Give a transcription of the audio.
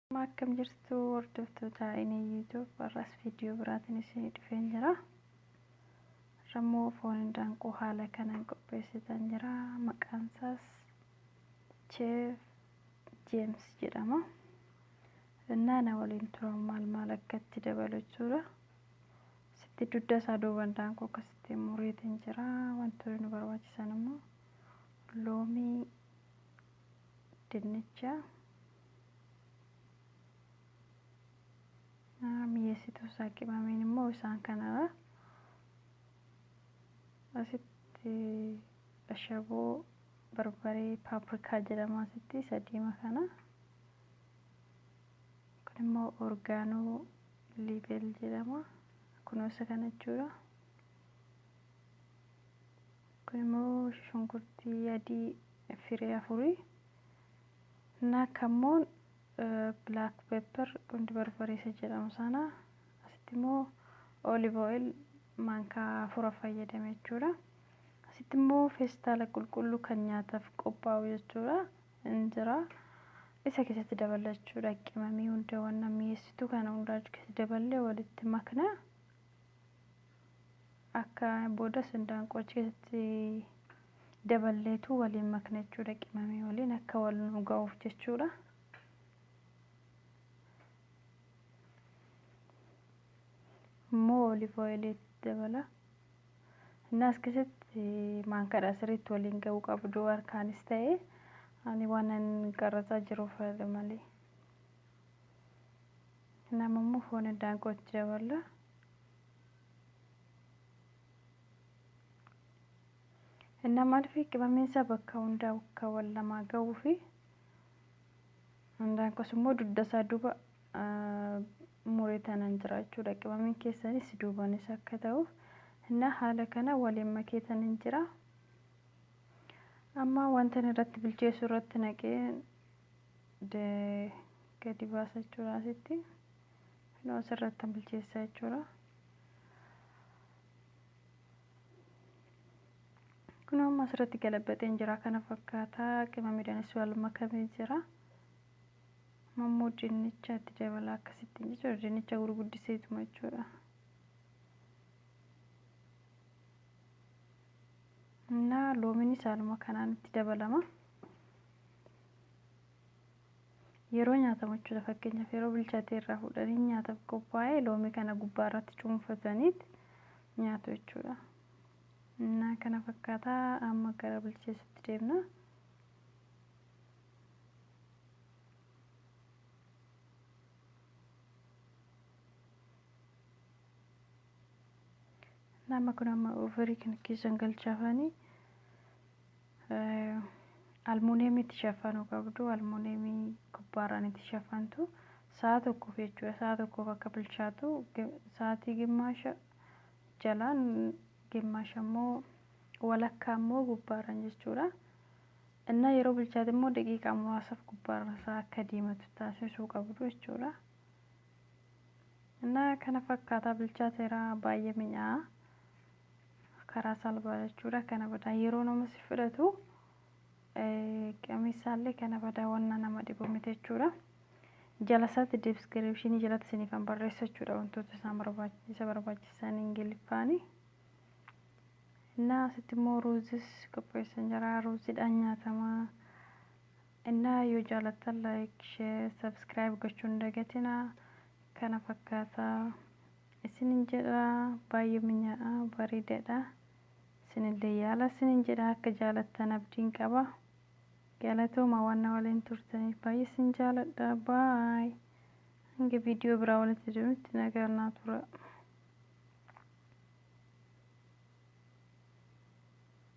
Amma akkam jirtu hordoftoota inni YouTube har'as viidiyoo biraatiin isin dhufeen jira. Rammoo foon indaanqoo haala kanaan qopheessitan jira. Maqaan isaas Cheef Jeems jedhama. Naana waliin turan maal maal akka itti dabalu jechuudha. Sitti dugda isaa duuba indaanqoo akkasitti mureetiin jira. Wantoonni nu barbaachisan immoo loomii dinnicha mi'eessituu isaa qimameen immoo isaan kanarra asitti ashaboo barbaree paaprikaa jedhama asitti sadiima kana kun immoo orgaanoo liibel jedhama kunuunsa kana jechuudha kun immoo shunkurtii adii Firii afurii na kammoon black pepper qundi barbaree isa jedhamu sana asitti immoo olive oil maankaa afura fayyadame jechuudha. Asitti immoo feestaala qulqulluu kan nyaataaf qophaa'u jechuudha. Injira isa keessatti daballa jechuudha. Qimamii hundaawwan mi'eessituu kana hundaa keessatti daballee walitti makna. Akka boodas hindaanqoo cheesitti daballeetu waliin makna jechuudha qimamii waliin akka wal nu ga'uuf jechuudha. Immoo olive oil itti dabala. Inni as keessatti maankadha sirriitti waliin ga'uu qabdu harkaanis ta'e ani waanan qarrasaa jiruuf fayyada malee. Nama immoo foon hindaanqoo itti daballa. Innaa maaliif qibameen isaa bakka hundaa bakka wal lamaa ga'uu fi hundaan kos immoo dugda isaa duuba muree tanan jira jechuudha. Qibameen keessanis duubanis akka ta'uuf innaa haala kana waliin makee tanan jira. Amma wanta irratti bilcheessu irratti naqee gadi baasa jechuudha asitti. Kunoo asirrattan bilcheessa jechuudha. Kunoo amma asirratti galabaxeen jira kana fakkaata. Qimamiidhaanis wal makamee jira. Amma immoo dinnicha itti dabalaa akkasittiin jechuudha. Dinnicha gurguddiseetuma jechuudha. Innaa loomiinis haaluma kanaan itti dabalama. Yeroo nyaatamu jechuudha fakkeenyaaf yeroo bilchatee irraa fuudhanii nyaataaf qophaa'e loomii kana gubbaa irratti cuunfataniit nyaatu jechuudha. Innaa kana fakkaataa amma gara bilcheessutti deemna. Nama kun amma ofirii kan keessan galchaafanii Almuuniyemii itti shaffanuu qabdu. Almuuniyemii gubbaarraan itti shaffantu. Sa'a tokkoof jechuudha. Sa'a tokkoof akka bilchaatu sa'aatii gimmaasha jalaan gimmaasha immoo walakkaa immoo gubbaarraan jechuudha. Innaa yeroo bilchaate immoo daqiiqaa muraasaaf gubbaarra isaa akka diimatu taasisuu qabdu jechuudha. Innaa kana fakkaataa bilchaateera baay'ee mi'aa'a. karaa salphaa jechuudha kana badaa yeroo nama si fudhatu qamisaallee kana badaa wanna nama dhibu miti jechuudha jalasaatti diskiripshinii jalatti siniifan barreessa jechuudha wantoota isaan barbaachisa barbaachisan ingiliffaani innaa asitti immoo ruuzis qopheessan jira ruuziidhaan nyaatama innaa yoo jaalattan laayik sheer sabskiraayib gochuun dagatina kana fakkaataa isinin jedha baay'ee minya'aa bareedadha isinillee yaala isinin jedha akka jaalattan abdiin qaba galatooma waan na waliin turtaniif baay'ee isin jaaladha baay hanga viidiyoo biraa walitti deemutti nagaan naa tura.